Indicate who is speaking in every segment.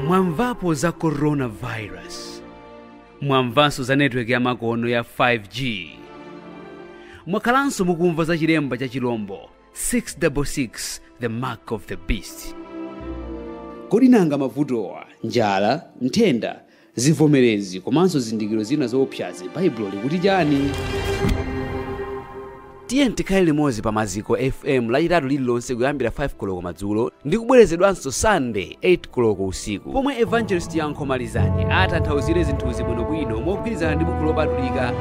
Speaker 1: mwamvapo za coronavirus mwamvanso za netiweki ya makono ya 5g mwakhalanso mukumva za chilemba cha chilombo 666 the mark of the beast kodi nanga mavutowa njala nthenda Zivomerezi komanso zizindikiro zina zoopsazi, Baibulo likuti chani? Tiyeni tikhale limodzi pa Maziko FM lachitatu lililonse kuyambira 5 koloko madzulo ndi kubwerezedwanso Sunday 8 koloko usiku, pomwe Evangelist Yankho Malizani atanthauzire zinthuzi bwinobwino mogwirizana ndi buku lopatulika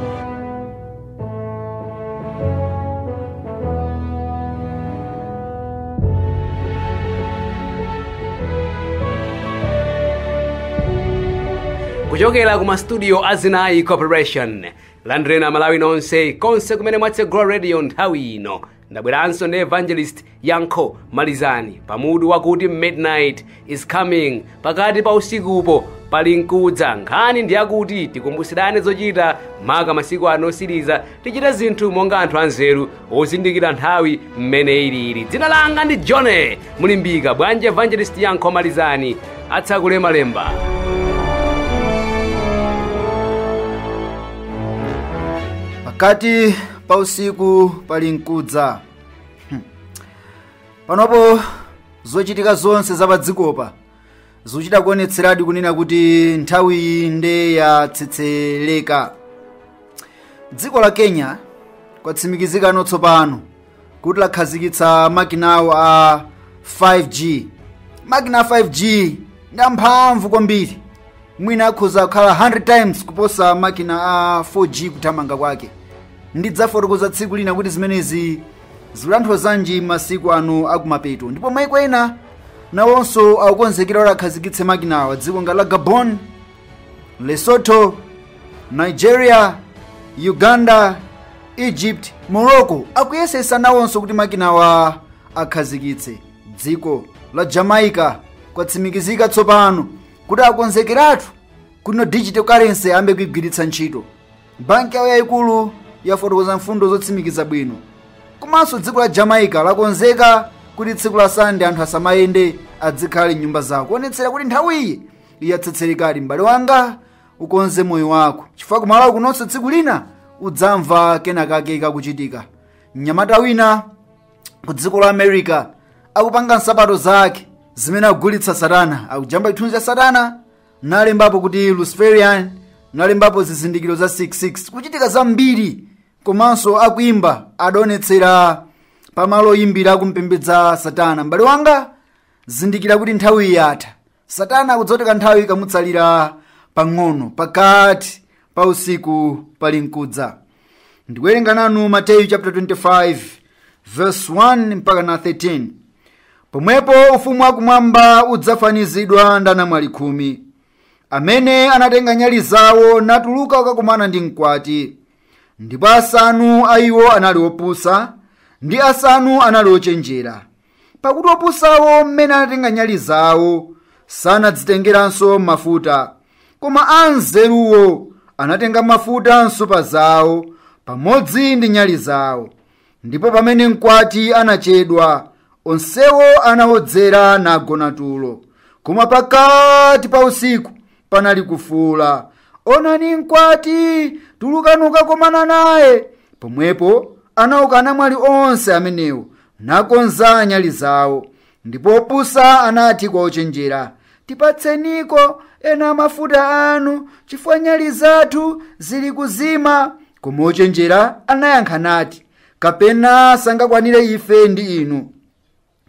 Speaker 1: kuchokera ku mastudio a zinayi corporation landireni amalawi nonse konse kumene mwatsegula radio nthawi ino ndabweranso ndi evangelist yankho malizani pamutu wakuti midnight is coming pakati pa usikupo pali nkudza nkhani ndi yakuti tikumbusirane zochita maka masiku ano osiriza tichite zinthu monga anthu anzeru ozindikira nthawi mmene ilili dzina langa ndi john mulimbika bwanji evangelist yankho malizani atsakule malemba
Speaker 2: pakati pa usiku pali mkudza Hmm. panopo zochitika zonse za padzikopa zikuchita kuonetseradi kunena kuti nthawiyi nde yatsetsereka dziko la kenya kwatsimikizikano tsopano kuti lakhazikitsa makina awo a 5g makina a 5g ndi amphamvu kwambiri mwina akhoza kukhala 100 times kuposa makina a 4g kuthamanga kwake ndidzafotokoza tsiku lina kuti zimenezi zikulankhula zanji masiku ano akumapeto ndipo maiko ena nawonso akukonzekera kuti akhazikitse makinawa dziko ngati la gabon lesotho nigeria uganda egypt morocco akuyesesa nawonso kuti makinawa akhazikitse dziko la jamaica kwatsimikizika tsopano kuti akonzekeratu kuti no digital currency ayambe kuigwiritsa ntchito banki yawo yayikulu yafotokoza mfundo zotsimikiza bwino komanso dziko la jamaica lakonzeka kuti tsiku la sande anthu asamayende adzikhala m'nyumba zawo kuonetsera kuti nthawiyi yatsetserekadi m'bale wanga ukonze moyo wako chifukwa kumalawi kunonso tsiku lina udzamva kenakake kakuchitika mnyamata wina ku dziko la america akupanga nsapato zake zimene akugulitsa satana akujambula chithunzi cha satana nalembapo kuti luciferian nalembapo zizindikiro za 66 kuchitika zambiri komanso akuimba adaonetsera pamalo oyimbira akumpembedza satana m'bale wanga zindikira kuti nthawi yatha satana akudziwa kuti kanthawi kamutsalira pang'ono pakati pa usiku palinkudza ndikuwerenga nanu mateyu chapter 25 verse 1 mpaka na 13 pomwepo ufumu wakumwamba udzafanizidwa ndi anamwali khumi amene anatenga nyali zawo natuluka kukakumana ndi mkwati ndipo asanu a iwo anali opusa ndi asanu anali ochenjera pakuti opusawo mmene anatenga nyali zawo sanadzitengeranso mafuta koma anzeruwo anatenga mafuta m'nsupa zawo pamodzi ndi nyali zawo ndipo pamene mkwati anachedwa onsewo anawodzera nagona tulo koma pakati pa usiku panali kufuula onani mkwati tulukani kukakomana naye pomwepo anauka anamwali onse amenewo nakonza nyali zawo ndipo opusa anati kwa ochenjera tipatseniko ena a mafuta anu chifukwa nyali zathu zili kuzima koma ochenjera anayankha nati kapena sangakwanire ife ndi inu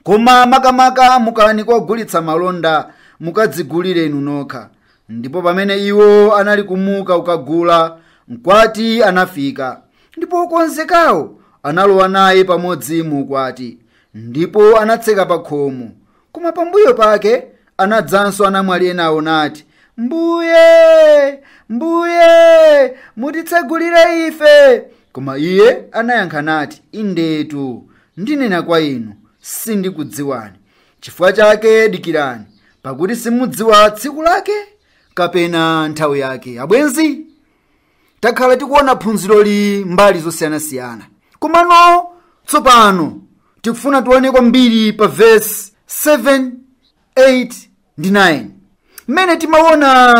Speaker 2: koma makamaka mukani kwa ogulitsa malonda mukadzigulire inu nokha ndipo pamene iwo anali kumuka kukagula mkwati anafika ndipo okonzekawo analowa naye pamodzi mu ukwati ndipo anatseka pa khomo koma pambuyo pake anadzanso anamwali enawo nati mbuye mbuye mutitsegulire ife koma iye anayankha nati indetu ndinena kwa inu sindikudziwani chifukwa chake dikirani pakuti simudziwa tsiku lake kapena nthawi yake abwenzi takhala tikuona phunziroli mbali zosiyanasiyana komano tsopano tikufuna tione kwambiri pa vesi 7 8 ndi 9 mmene timaona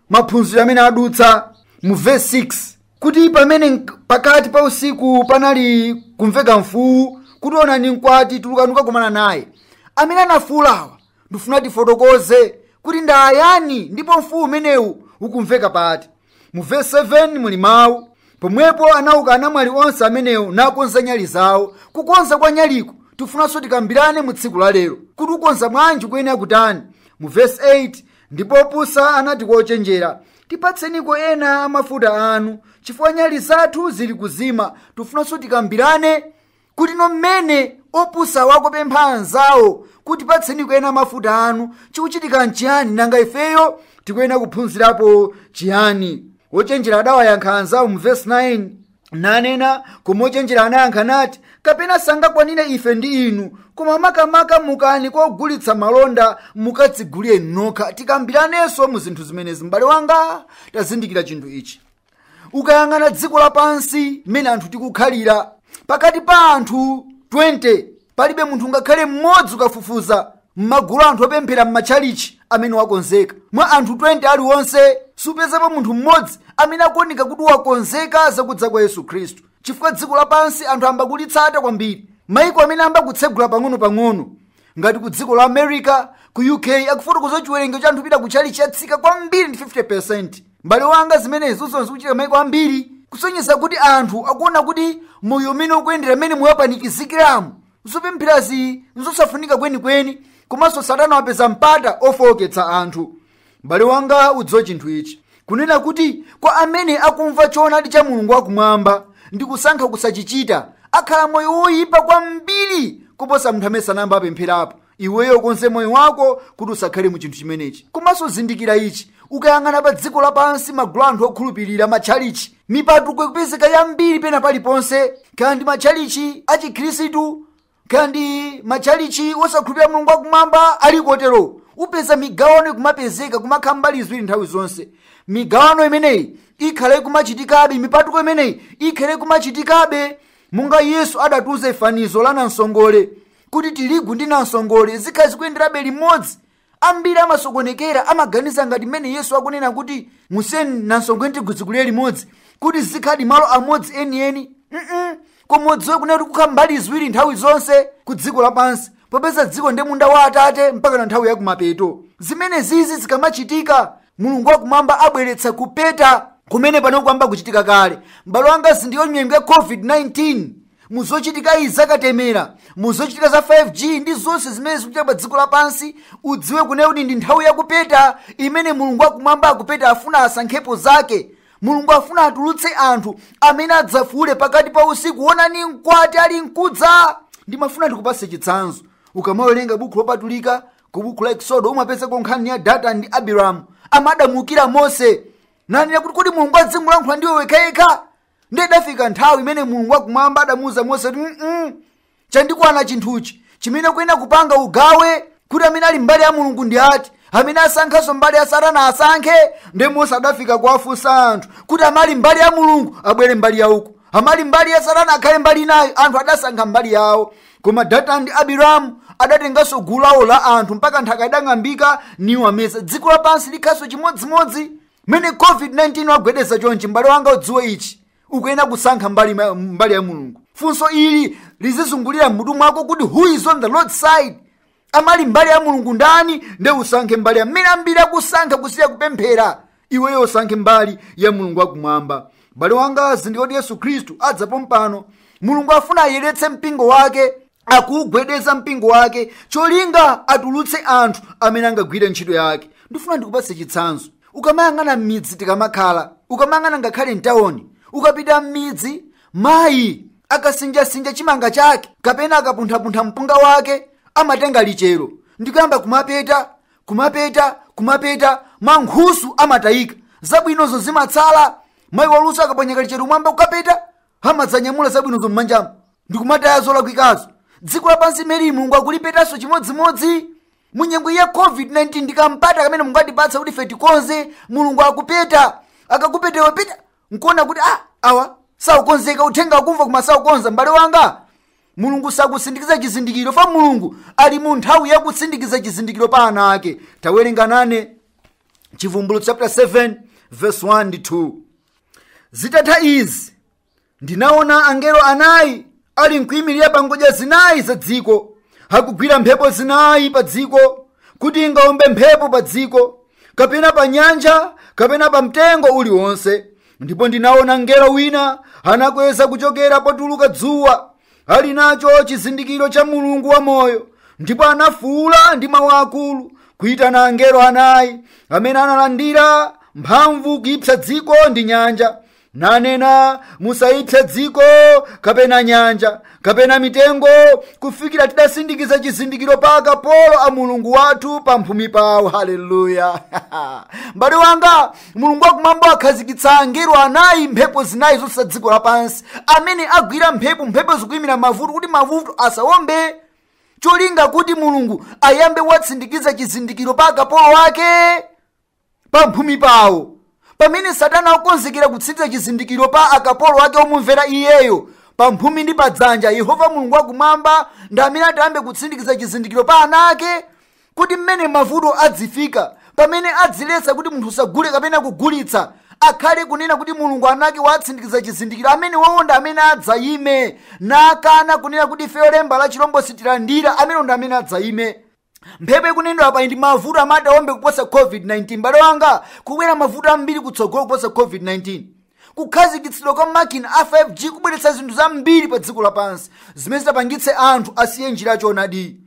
Speaker 2: m'maphunziro amene adutsa mu verse 6 kuti pamene nk- pakati pa usiku panali kumveka mfuwu kuti onani mkwati tulukani kukakumana naye amene anafuulawa ndifuna tifotokoze kuti ndayani ndipo mfuwu umenewu ukumveka pati mu vesi 7 muli mawu pomwepo anauka anamwali onse amenewo nakonza nyali zawo kukonza kwa nyaliku tifunanso tikambirane mu tsiku la lero kuti kukonza bwanji kuyenera kutani mu vesi 8 ndipo opusa anati kwa ochenjera tipatseniko ena a mafuta anu chifukwa nyali zathu zili kuzima tifunanso tikambirane kuti no mmene opusawa akupempha anzawo kuti patseniko ena mafuta anu chikuchitika nchiyani nanga ifeyo tikuyenera kuphunzirapo chiyani ochenjera adawayankha anzawo mu vesi 9 nanena koma ochenjera anayankha nati kapena sangakwanire ife ndi inu koma makamaka mukani kwa ogulitsa malonda mukadzigulire nokha tikambiranenso mu zinthu zimenezi m'bale wanga tazindikira chinthu ichi ukayang'ana dziko lapansi mmene anthu tikukhalira pakati pa anthu 20 palibe munthu ngakhale mmodzi ukafufuza m'magulu anthu opemphera m'matchalichi amene wakonzeka mwa anthu 20 aliwonse supezapo munthu mmodzi amene akuoneka kuti wakonzeka zakudza kwa yesu khristu chifukwa dziko lapansi anthu ayamba kulitsata kwambiri maiko amene ayamba kutsegula pang'ono-pang'ono ngati ku dziko la america ku uk akufotokoza chiwerengero cha anthu opita ku tchalichi chatsika kwambiri ndi 50 m'bale wanga zimenezo zikuchitika maiko ambiri kusonyeza kuti anthu akuona kuti moyo mmene ukuyendera mmene moyo wapanikizikiramu zopempherazi nzosafunika kwenikweni komanso satana wapeza mpata ofowoketsa anthu m'bale wanga udziwe chinthu ichi kunena kuti kwa amene akumva choonadi cha mulungu wakumwamba ndi kusankha kusachichita akhala moyo woyipa kwambiri kuposa munthu amene sanayamba apempherapo iweyo ukonze moyo wako kuti usakhale mu chinthu chimenechi komanso zindikira ichi ukayang'ana pa dziko lapansi magulu anthu okhulupirira matchalichi mipatuko ikupezeka yambiri pena paliponse kaya ndi matchalichi achikhristu kaya ndi matchalichi osakhulupirira mulungu wakumwamba ali kotero upeza migawano ikumapezeka kumakhala mbali ziwiri nthawi zonse migawano imeneyi ikhala ikumachitikabe mipatuko imeneyi ikhala ikumachitikabe monga yesu adatiuza fanizo la namsongole kuti tirigu ndi namsongole zikhala zikuyenderabe limodzi ambiri amasokonekera amaganiza ngati mmene yesu akunena kuti musiyeni namsongole ndi tirigu zikulire limodzi kuti zikhale malo amodzi enieni mm koma udziwe kunena kuti kukhala mbali ziwiri nthawi zonse ku dziko lapansi popeza dziko ndi munda wa atate mpaka na nthawi yakumapeto zimenezizi zikamachitika mulungu wakumwamba abweretsa kupeta kumene pano kuyamba kuchitika kale m'bale wanga ndiyo nyengo ya covid-19 mu zochitika izi zakatemera mu zochitika za 5g ndi zonse zimene zikuchitika pa dziko lapansi udziwe kunena kuti ndi nthawi yakupeta imene mulungu wakumwamba akupeta afuna asankhepo zake mulungu afuna atulutse anthu amene adzafuule pakati pa usiku onani mkwati ali mkudza ndimafuna ndikupase chitsanzo ukamawerenga buku lopatulika ku buku la eksodo umapezako nkhani ya datani ndi abiramu amene adamuukira mose nanena kuti kodi mulungu adzingolankhula ndiwe wekhawekha ndiye idafika nthawi imene mulungu wakumwamba adamuuza mose kuti mm chandikwana chinthuchi chimene ukuyenera kupanga ugawe kuti amene ali mbali ya mulungu ndi ati amene asankhanso mbali ya satana asankhe ndiye mose adafika kuwafunsa anthu kuti amali mbali ya mulungu abwere mbali ya uku amali mbali ya satana akhale mbali inayo anthu adasankha mbali yawo koma datani ndi abiramu adatenganso gulu lawo la anthu mpaka nthaka idang'ambika niwameza dziko lapansi likhanso chimodzimodzi mmene covid-19 wagwedeza chonchi m'bale wanga udziwe ichi ukuyenera kusankha mbali ya mulungu funso ili lizizungulira m'mutu mwako kuti who is on the lord side amali mbali ya mulungu ndani nde usasankhe mbali ya mmene ambiri akusankha kusiya kupemphera iweyo usankhe mbali ya mulungu wakumwamba m'bale wanga zindikira kuti yesu khristu adza pompano mulungu afuna ayeretse mpingo wake akuugwedeza mpingo wake cholinga atulutse anthu amene angagwire ntchito yake ndifuna ndikupatse chitsanzo ukamayang'ana m'midzi tikamakhala ukamayang'ana ngakhale mtawoni ukapita m'midzi mayi akasinjasinja chimanga chake kapena akapunthapuntha mpunga wake amatenga lichero ndikuyamba kumapeta kumapeta kumapeta mankhusu amatayika zabwinozo zimatsala mayi waluso akaponya kalichero mmwamba kukapeta amadzanyamula zabwinozo m'manjamo ndi kumataya zolakwikazo dziko lapansi limeneli mulungu akulipetanso chimodzimodzi mu nyengo ya covid-19 ndi kampata kamene mulungu atipatsa kuti ife tikonze mulungu akupeta akakupeta nkuona kuti ah awa saukonzeka uthenga akumva koma saukonza m'bale wanga mulungu sakusindikiza chizindikiro fa mulungu ali mu nthawi yakusindikiza chizindikiro pa ana ake tawerenga nane chivumbulutso chapter 7 verse 1 ndi 2 zitatha izi ndinaona angelo anayi ali nkuyimirira pa ngodya zinayi za dziko akugwira mphepo zinayi pa dziko kuti ingawombe mphepo pa dziko kapena pa nyanja kapena pa mtengo uliwonse ndipo ndinaona mngelo wina anakwera kuchokera potuluka dzuwa ali nacho chizindikiro cha mulungu wamoyo ndipo anafuula ndi mawu akulu kuitana angelo anayi amene analandira mphamvu kuipsa dziko ndi nyanja nanena musaipse dziko kapena nyanja kapena mitengo kufikira tidasindikiza chizindikiro pa akapolo a mulungu wathu pa mphumi pawo haleluya m'bale wanga mulungu wakumwamba akhazikitsa angelo anayi mphepo zinayi zonse za dziko lapansi amene agwira mphepo mphepo zikuyimira mavuto kuti mavuto asawombe cholinga kuti mulungu ayambe watsindikiza chizindikiro pa akapolo ake pa mphumi pawo pamene satana akonzekera kutsindikiza chizindikiro pa akapolo ake omumvera iyeyo pa mphumi ndi pa dzanja yehova mulungu wakumwamba ndi amene atayambe kutsindikiza chizindikiro pa ana ake Kodi mmene mavuto adzifika pamene adziletsa kuti munthu usagule kapena kugulitsa akhale kunena kuti Mulungu ana ake wawatsindikiza chizindikiro amene wawo ndi amene adzayime nakana kunena kuti ifeyo lemba la chilombo sitilandira amene ndi amene adzayime mphepo ikunenedwa apa ndi mavuto amene ati awombe kuposa covid-19 mbale wanga kubwera mavuto ambiri kutsogolo kuposa covid-19 kukhazikitsidwa kwa makina a 5g kubweretsa zinthu zambiri pa dziko lapansi zimene zitapangitse anthu asiye njira yachonadi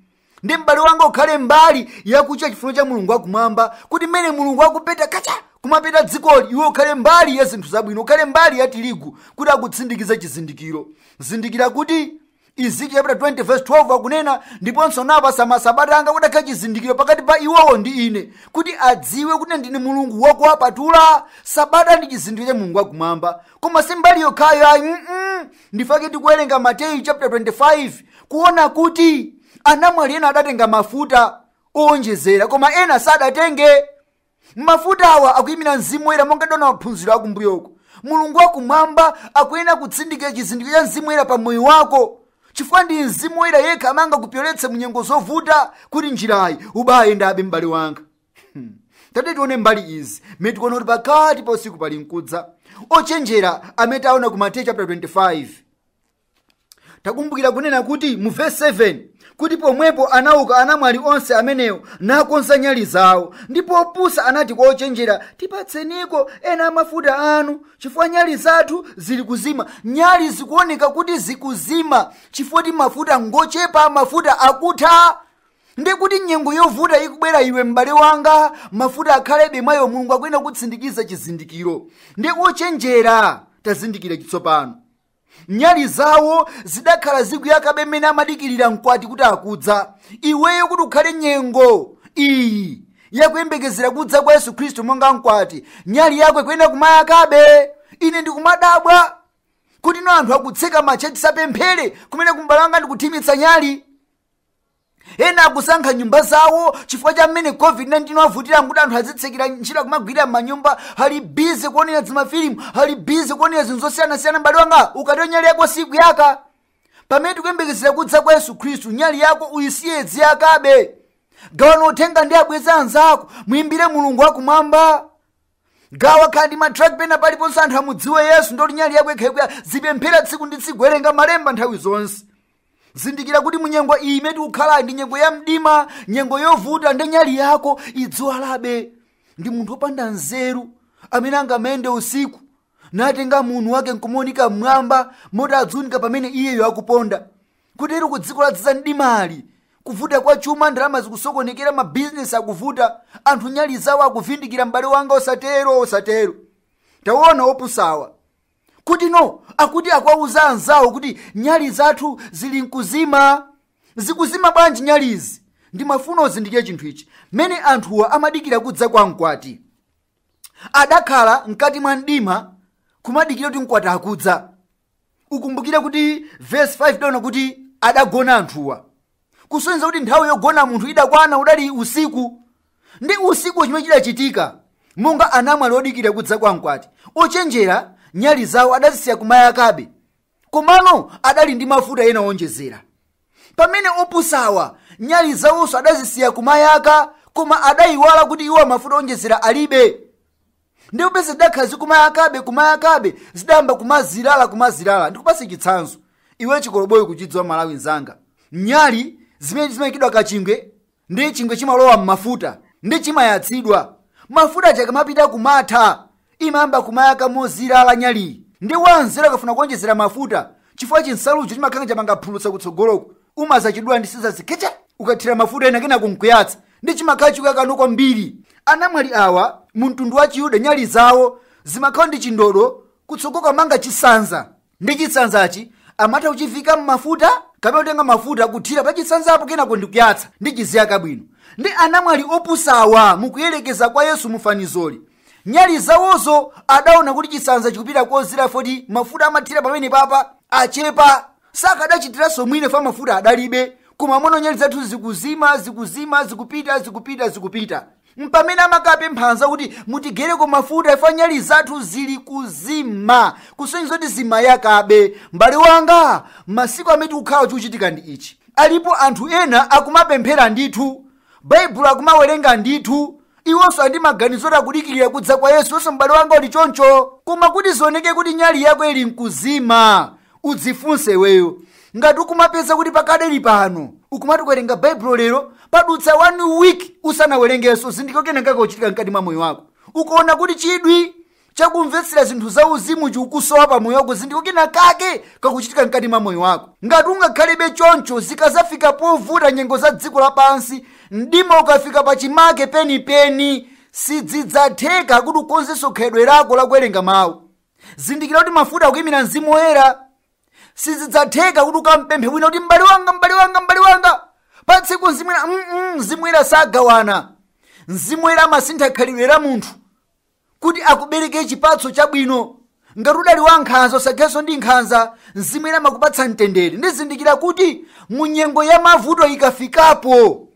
Speaker 2: ndi m'bale wanga ukhale mbali yakuchita chifuniro cha mulungu wakumwamba kuti mmene mulungu akupeta kacha kumapeta dzikoli iwe ukhale mbali ya zinthu zabwino ukhale mbali ya tirigu kuti akutsindikiza chizindikiro zindikira kuti ezekiel chapter 20 verse 12 akunena ndiponso nawapatsa masabata anga kuti akhale chizindikiro pakati pa iwowo ndi ine kuti adziwe kuti ndine mulungu wakuwapatula sabata ndi chizindikiro cha mulungu wakumwamba koma si mbali yokhayo ayi mm ndi chifukwa chake tikuwerenga mateyu chapter 25 kuona kuti anamwali ena adatenga mafuta owonjezera koma ena sadatenge mafuta awa akuyimira mzimu woyera monga tidaona maphunziro akumbuyoko mulungu wakumwamba akuyenera kutsindikiza chizindikiro cha mzimu woyera pa moyo wako chifukwa ndi mzimu woyera yekha amene angakupyoletse mu nyengo zovuta kuti njirayi ubaayendabe m'bale wanga tati tione mbali izi mmene tikuona kuti pakati pa usiku pali mkudza ochenjera amene taona ku mateyu chapter 25 takumbukira kunena kuti mu vesi 7 kuti pomwepo anauka anamwali onse amenewo nakonza nyali zawo ndipo opusa anati kwa ochenjera tipatseniko ena amafuta anu chifukwa nyali zathu zili kuzima nyali zikuoneka kuti zikuzima chifukwa choti mafuta ngochepa mafuta akutha ndiye kuti nyengo yovuta ikubwera iwe m'bale wanga mafuta akhalebe mwa iwe mulungu akuyenera kutsindikiza chizindikiro ndiye ochenjera tazindikira chitsopano nyali zawo zidakhala zikuyakabe mmene amadikirira mkwati kuti akudza iweyo kuti ukhale nyengo iyi yakuyembekezera kudza kwa yesu khristu monga mkwati nyali yako ikuyenera kumayakabe ine ndikumadabwa kuti no anthu akutseka matchalitchi asapemphere kumeneko m'bale wanga ndikuthimitsa nyali ena akusankha m'nyumba zawo chifukwa cha mmene covid-19 wavutira nkuti anthu azitsekera ntchito akumagwirira m'manyumba ali bize kuonera zimafilimu ali bize kuonera zinthu zosiyanasiyana m'bale wanga ukatero nyali yako sikuyaka pamene tikuyembekezera kudza kwa yesu khristu nyali yako uyisiye iziyakabe gawana uthenga ndi abwenzi anzako muyimbire mulungu wakumwamba gawa ngakhale ndi matract pena paliponse anthu amudziwe yesu ndiye kuti nyali yako ikhala ikuyaka uzipemphera tsiku ndi tsiku werenga malemba nthawi zonse zindikira kuti munyengo iyi imene tikukhala ndi nyengo ya mdima nyengo yovuta ndi nyali yako idziwalabe ndi munthu wopanda nzeru amene angamayende usiku natenga muuni wake nkumaunika mmwamba mmalo moti adziunika pamene iyeyo akuponda kotero ku dziko ladzaza mdimali kuvuta kwa chuma ndalama zikusokonekera mabizinesi akuvuta anthu nyali zawo akuvindikira m'bale wanga osatero osatero taona opusawa kutino akuti akwauza anzawo kuti nyali zathu zili mkuzima zikuzima bwanji nyalizi ndimafuna uzindikire chinthu ichi mmene anthuwa amadikira kudza kwa mkwati adakhala mkati mwa mdima kumadikira kuti mkwati akudza ukumbukire kuti vesi 5 tidaona kuti adagona anthuwa kusonyeza kuti nthawi yogona munthu idakwana udali usiku ndi usiku chimene chidachitika monga anamwali odikira kudza kwa mkwati ochenjera nyali zawo adazisiya kumayakabe komano adali ndi mafuta ena owonjezera pamene opusawa nyali zawonso adazisiya kumayaka koma adayiwala kuti iwo mafuta owonjezera alibe ndiye popeza zidakhala zili kumayakabe kumayakabe zidayamba kumazirala kumazirala ndikupase chitsanzo iwe chikoloboyi ukuchidziwa m'malawi nzanga nyali zimene zimayikidwa kachingwe ndiye chingwe chimalowa m'mafuta ndiye chimayatsidwa mafuta aja akamapita kumatha imayamba kumayaka mozirala nyaliyi ndiye wanzeru akafuna kuonjezera mafuta chifukwa chinsalucho chimakhala chamanga phulutsa kutsogoloko umazachidula ndi sizasi kuchoka ukathira mafuta ena kenako n'kuyatsa ndiye chimakhala chikuyakano kwambiri anamwali awa mu mtundu wa chiyuda nyali zawo zimakhala ndi chindodo kutsogolo akamanga chisanza ndiye chisanzachi amatha kuchivika m'mafuta kapena kutenga mafuta kuthira pa chisanzapo kenako ndikuyatsa ndiye chiziyaka bwino ndiye anamwali opusawa mukuyerekeza kwa yesu mufanizoli nyali zawozo adaona kuti chisanza chikupita kozirala poti mafuta amathira pamenepa pa achepa sakadachitiranso mwina chifukwa mafuta adalibe kumaona nyali zathu zikuzima zikuzima zikupita zikupita zikupita mpamene amakapempha anzawo kuti mutigaireko mafuta chifukwa nyali zathu zili kuzima kusonyeza kuti zimayakabe m'bale wanga masiku amene tikukhala chikuchitika ndi ichi alipo anthu ena akumapemphera ndithu baibulo akumawerenga ndithu iwonso ali ndi maganizo oti akudikirira kudza kwa yesu iwenso m'bale wanga uli choncho koma kuti zioneke kuti nyali yako ili mkuzima udzifunse iweyo ngati ukumapeza kuti pakadali pano ukumati kuwerenga baibulo lero padutsa one week usanawerengenso zindikira kenakake kakuchitika mkati mwa moyo wako ukaona kuti chidwi chakumvetsera zinthu zauzimu chikukusowa pa moyo wako zindikira kenakake kakuchitika mkati mwa moyo wako ngati ungakhalebe choncho zikadzafika povuta nyengo za dziko lapansi mdima ukafika pa chimake penipeni sizidzatheka kuti ukonzenso khalidwe lako lakuwerenga mawu zindikira kuti mafuta akuyimira mzimu woyera sizidzatheka kuti ukamupemphe wina kuti m'bale wanga m'bale wanga m'bale wanga patseko mzimu woyera mm -mm, mzimu woyera sagawana mzimu woyera amasintha khalidwe la munthu kuti akubereke chipatso chabwino ngati udali wankhanza usakhenso ndi nkhanza mzimu woyera amakupatsa mtendere ndi zindikira kuti mu nyengo ya mavuto ikafikapo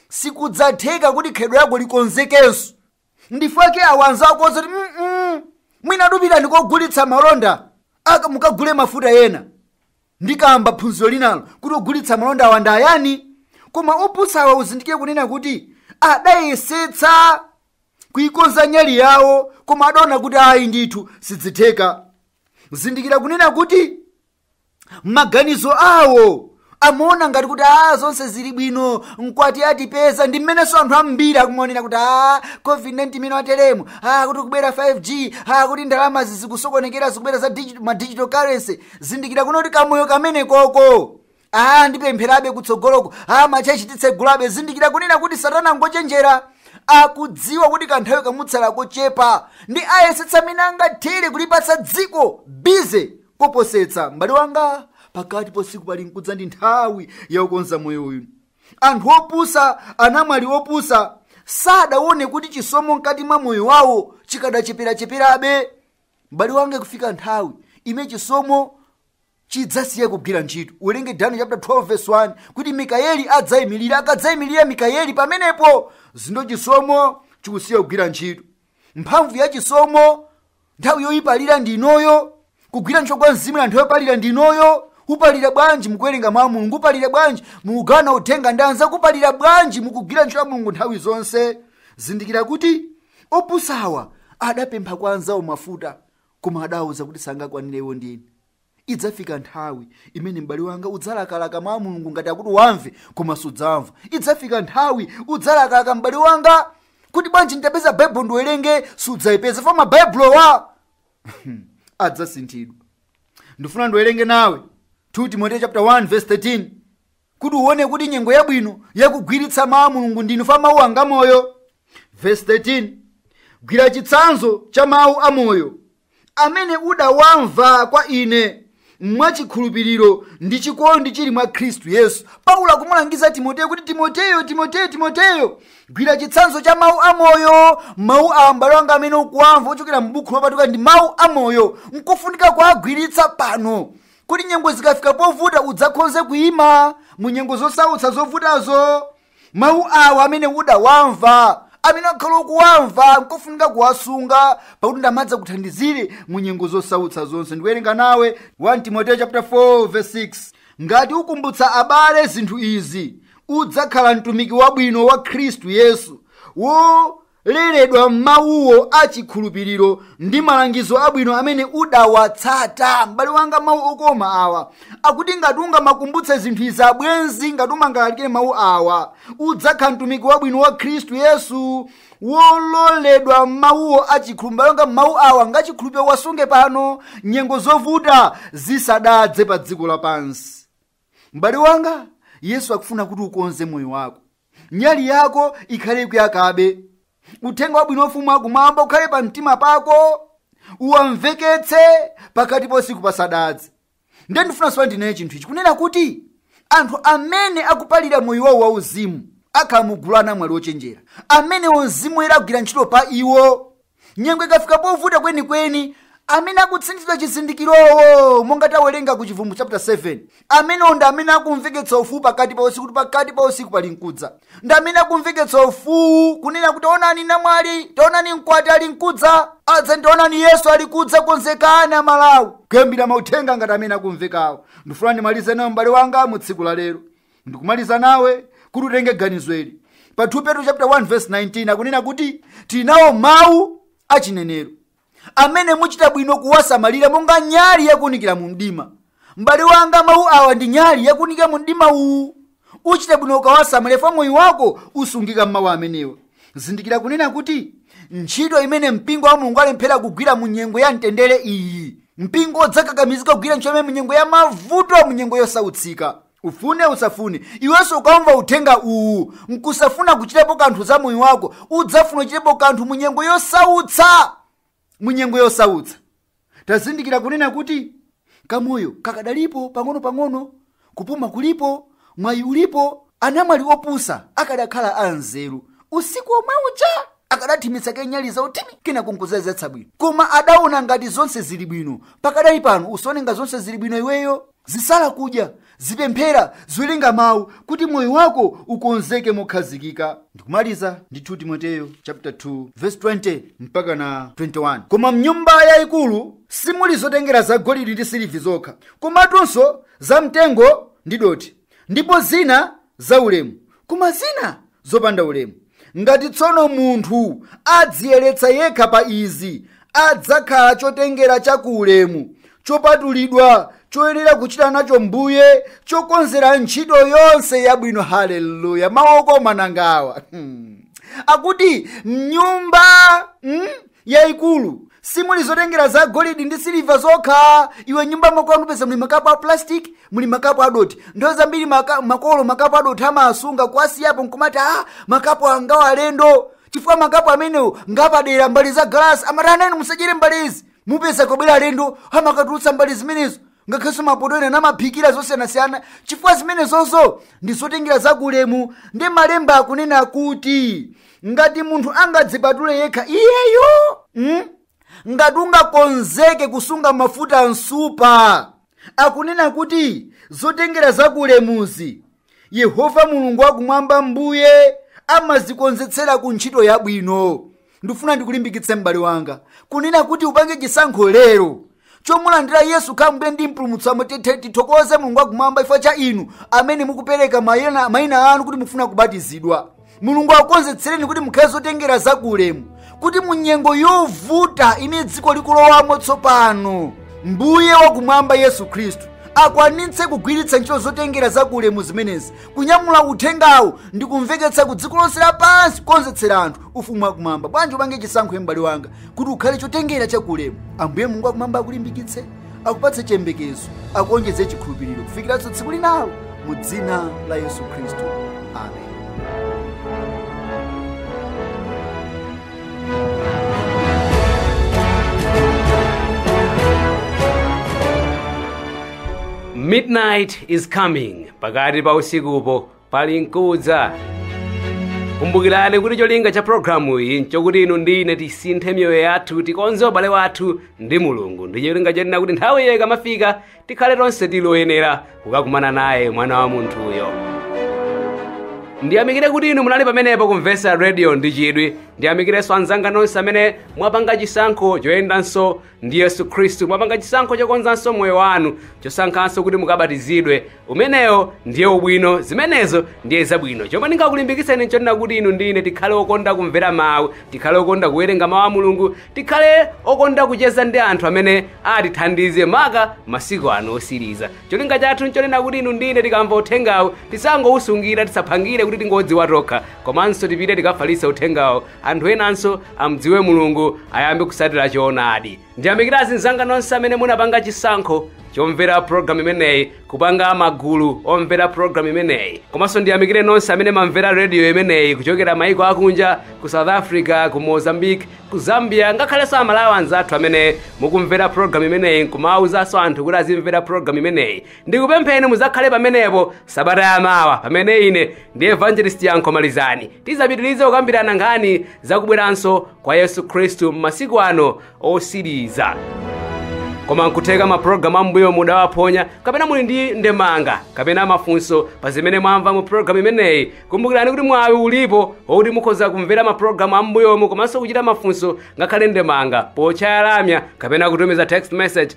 Speaker 2: sikudzatheka kuti khalidwe lako likonzekenso ndifake awa anzawo akuwauza kuti "Mm-mm, mwina tapitani kogulitsa malonda mukagule mafuta ena ndikamba phunziro linalo kuti ogulitsa malonda awa ndi ayani koma opusawa uzindikire kunena kuti adayesetsa kuikonza nyali yawo koma adaona kuti ayi ndithu sidzitheka zindikira kunena kuti maganizo awo amaona ngati kuti a zonse zili bwino mkwati atipeza ndi mmenenso anthu ambiri akumaonera kuti a covid-19 imene yateremu a kuti kubwera 5g a kuti ndalamazi zikusokonekera zikubwera za digi- ma digital currency zindikira kunena kuti kamoyo kamene koko aa ndipempherabe kutsogoloko aa machechi titsegulabe zindikira kunena kuti satana ngochenjera akudziwa kuti kanthawi kamutsalira kochepa ndiye ayesetsa mmene angathere kulipatsa dziko bize koposetsa m'bale wanga pakati pa usiku palinkudza ndi nthawi yakukonza moyo uyu anthu opusa anamwali opusa sadaone kuti chisomo mkati mwa moyo wawo chikadacheperacheperabe m'bale wanga kufika nthawi imene chisomo chidzasiya kugwira ntchito uwerenge daniel chapter 12 verse 1 kuti mikayeli adzayimirira akadzayimirira mikayeli pamenepo zindo chisomo chikusiya kugwira ntchito mphamvu ya chisomo nthawi yoyipalira ndi inoyo kugwira ntchito kwa mzimu nthawi yopalira ndi inoyo upalira bwanji mukuwerenga mawu a mulungu upalira bwanji mukugawana uthenga ndi anzako upalira bwanji mukugwira ntchito ya mulungu nthawi zonse zindikira kuti opusawa adapempha kwa anzawo mafuta Koma adawauza kuti sangakwanire iwo ndi inu. Idzafika nthawi imene m'bale wanga udzalakalaka mawu a Mulungu ngati awa kuti uwamve, koma sudzawamva. Idzafika nthawi udzalakalaka m'bale wanga kuti bwanji nditapeza Baibulo ndiwerenge, sudzaipeza chifukwa Mabaibulowa adzasinthidwa. Ndifuna ndiwerenge nawe 2 Timoteyo chapter 1 verse 13. kuti uone kuti nyengo yabwino yakugwiritsa mawu a mulungu ndi ino chifukwa mawuwa nga moyo vesi 13 gwira chitsanzo cha mawu a moyo amene udawamva kwa ine mwachikhulupiriro ndi chikondi chili mwa khristu yesu paulo akumulangiza timoteyo kuti timoteyo timoteyo timoteyo gwira chitsanzo cha mawu a moyo mawu awa m'bale wanga amene ukuwamva ochokera m'buku lopatulika ndi mawu a moyo nkofunika kuwagwiritsa pano kuti nyengo zikafika povuta udzakhonze kuima mu nyengo zosautsa zovutazo mawu awa amene udawamva amene wakhala ukuwamva nkofunika kuwasunga pakuti ndi amene adzakuthandizire mu nyengo zosautsa zonse ndikuwerenga nawe 1 timoteyo chapter 4 verse 6 ngati ukumbutsa abale zinthu izi udzakhala mtumiki wabwino wa khristu yesu wo leredwa m'mawuwo a chikhulupiriro ndi malangizo abwino amene udawatsata m'bale wanga mawu okoma awa akuti ngati ungamakumbutse zinthu izi abwenzi ngati umangalalikire mawu awa udzakhala mtumiki wabwino wa khristu yesu wololedwa m'mawuwo a chikhulupiriro m'bale wanga mawu awa ngachikhulupiriro wasunge pano nyengo zovuta zisadadze pa dziko lapansi m'bale wanga yesu akufuna kuti ukonze moyo wako nyali yako ikhale ikuyakabe uthenga wabwino wa ufumu wakumwamba ukhale pa mtima pako uwamveketse pakati pa usiku pasadadze ndiye ndifuna tsono ndinene chinthu ichi kunena kuti anthu amene akupalira moyo wawo wauzimu akhala mugulu la anamwali ochenjera amene mzimu woyera akugwira ntchito pa iwo nyengo ikafika povuta kwenikweni amene akutsindikizidwa chizindikirowo monga tawerenga ku chivumbulutso chapter 7 amenewo ndi amene akumveketsa mfuwu pakati pa usiku kuti pakati pa usiku pali nkudza ndi amene akumveketsa mfuwu kunena kuti taonani namwali taonani mkwati ali nkudza adza taonani yesu ali kudza konzekani amalawi kuyambira mauthenga ngati amene akumvekawo ndifuna ndimalize nawe m'bale wanga mu tsiku la lero ndikumaliza nawe kuti utenge ganizo ili pa 2 petro chapter 1 verse 19 akunena kuti tili nawo mawu achinenero amene muchita bwino kuwasamalira monga nyali yakuunikira mu mdima m'bale wanga mawu awa ndi nyali yakuunikira mu mdima uwu uchita bwino ukawasamalira chifukwa moyo wako usungika m'mawu amenewa zindikira kunena kuti ntchito imene mpingo wa mulungu alemphera kugwira mu nyengo ya mtendere iyi mpingo udzakakamizika kugwira ntchito imene mu nyengo ya mavuto mu nyengo yosautsika ufune usafune iwenso ukamva uthenga uwu nkusafuna kuchitapo kanthu za moyo wako udzafuna kuchitapo kanthu mu nyengo yosautsa mu nyengo yosautsa tazindikira kunena kuti kamoyo kakadalipo pang'ono-pang'ono kupuma kulipo mwayi ulipo anamwali opusa akadakhala anzeru usiku omwe uja akadathimitsa kaye nyali zawo thimi kenako nkuzazetsa bwino koma adaona ngati zonse zili bwino pakadali pano usaone ngati zonse zili bwino iweyo Zisala kudya, zipemphera, ziwerenga mawu kuti moyo wako ukonzeke mokhazikika. Ndikumaliza ndi 2 Timoteyo chapter 2 verse 20 mpaka na 21. Koma mnyumba yayikulu simuli zotengera za golidi ndi siliva zokha, komatunso za mtengo ndi dothi, ndipo zina zaulemu koma zina zopanda ulemu ngati tsono munthu adziyeretsa yekha pa izi adzakhala chotengera cha ku ulemu chopatulidwa choyenera kuchita nacho mbuye chokonzera ntchito yonse yabwino haleluya mawu okoma nangawa hmm. akuti mnyumba hmm? yaikulu simuli zotengera za golidi ndi siliva zokha iwe mnyumba mwakwanu mupeza muli makapu a plastic muli makapu adothi nthawi zambiri makolo makapu adothi amasunga kuwasiyapo nkumati makapu awa nga alendo chifukwa makapu amenewo ngapadera mbale za galasi amanena inu musadyere mbale izi mupeza kwabwera alendo amakatulutsa mbale zimenezo ngakhalenso mapoto ena amaphikira zosiyanasiyana chifukwa zimenezozo ndi zotengera zakulemu ndi malemba akunena kuti ngati munthu angadzipatule yekha iyeyo mm? ngati ungakonzeke kusunga mafuta a msupa akunena kuti zotengera zakulemuzi yehova mulungu wakumwamba mbuye amazikonzetsera ku ntchito yabwino ndikufuna ndikulimbikitse m'bale wanga kunena kuti upange chisankho lero chomulandira yesu kukhala mbuye ndi mpulumutsi wamwe tithe tithokoze mulungu wakumwamba chifukwa cha inu amene mukupereka mayina anu kuti mufuna kubatizidwa mulungu akukonzetsereni kuti mukhale zotengera za ku ulemu kuti mu nyengo yovuta imene dziko likulowamo tsopano mbuye wakumwamba yesu khristu akwanitse kugwiritsa ntchito zotengera za ku ulemu zimenezi kunyamula uthengawu ndi kumveketsa ku dziko lonse lapansi kukonzetsera anthu ufumu wakumwamba bwanji upange chisankho m'bale wanga kuti ukhale chotengera cha ku ulemu ambuye mulungu wakumwamba akulimbikitse akupatse chiyembekezo akuonjeze chikhulupiriro kufikiranso tsiku linalo mu dzina la yesu khristu amen
Speaker 1: midnight is coming pakati pa usikupo pali nkudza kumbukirani kuti cholinga cha programu iyi nchokuti inu ndi ine tisinthe miyoyo yathu tikonze ubale wathu ndi mulungu ndi cholinga chonena kuti nthawi iyo ikamafika tikhale tonse tili oyenera kukakumana naye mwana wa munthuyo ndiyamikire kuti inu munali pamenepo kumvetsera radio ndi chidwi ndiyamikirenso anzanga nonse amene mwapanga chisankho choyendanso ndi yesu khristu mwapanga chisankho chokonzanso moyo wanu chosankhanso kuti mukabatizidwe umenewo ndiye ubwino zimenezo ndiye zabwino chomwe ndingakulimbikitseni nchonena kuti inu ndi ine tikhale okonda kumvera mawu tikhale okonda kuwerenga mawu a mulungu tikhale okonda kucheza ndi anthu amene atithandize maka masiku ano osiriza cholinga chathu nchonena kuti inu ndi ine tikamva uthengawu tisangowusungira tisaphangire kuti tingodziwa tokha komanso tipite tikafalitse uthengawo anthu enanso amdziwe mulungu ayambe kusatira choonadi ndiyamikira azinzanga nonse amene munapanga chisankho chomvera programu imeneyi kupanga magulu omvera programu imeneyi komanso ndiyamikire nonse amene mamvera rediyo imeneyi kuchokera maiko akunja ku south africa ku mozambique ku zambia ngakhalenso amalawi anzathu amene mukumvera programu imeneyi nkumauzanso anthu kuti azimvera programu imeneyi ndikupempheni muzakhale pamenepo sabata yamawa pamene ine ndi evangelist yankho malizani tizapitirize kukambirana nkhani zakubweranso kwa yesu khristu m'masiku ano osiriza koma nkutheka mapulogalamu ambuyomu mudawaphonya kapena muli ndi ndemanga kapena mafunso pa zimene mwamva mu pulogalamu imeneyi kumbukirani kuti mwawi ulipo wokuti mukhoza kumvera mapulogalamu ambuyomu komanso kuchita mafunso ngakhale ndemanga pochaya lamya kapena kutumiza text message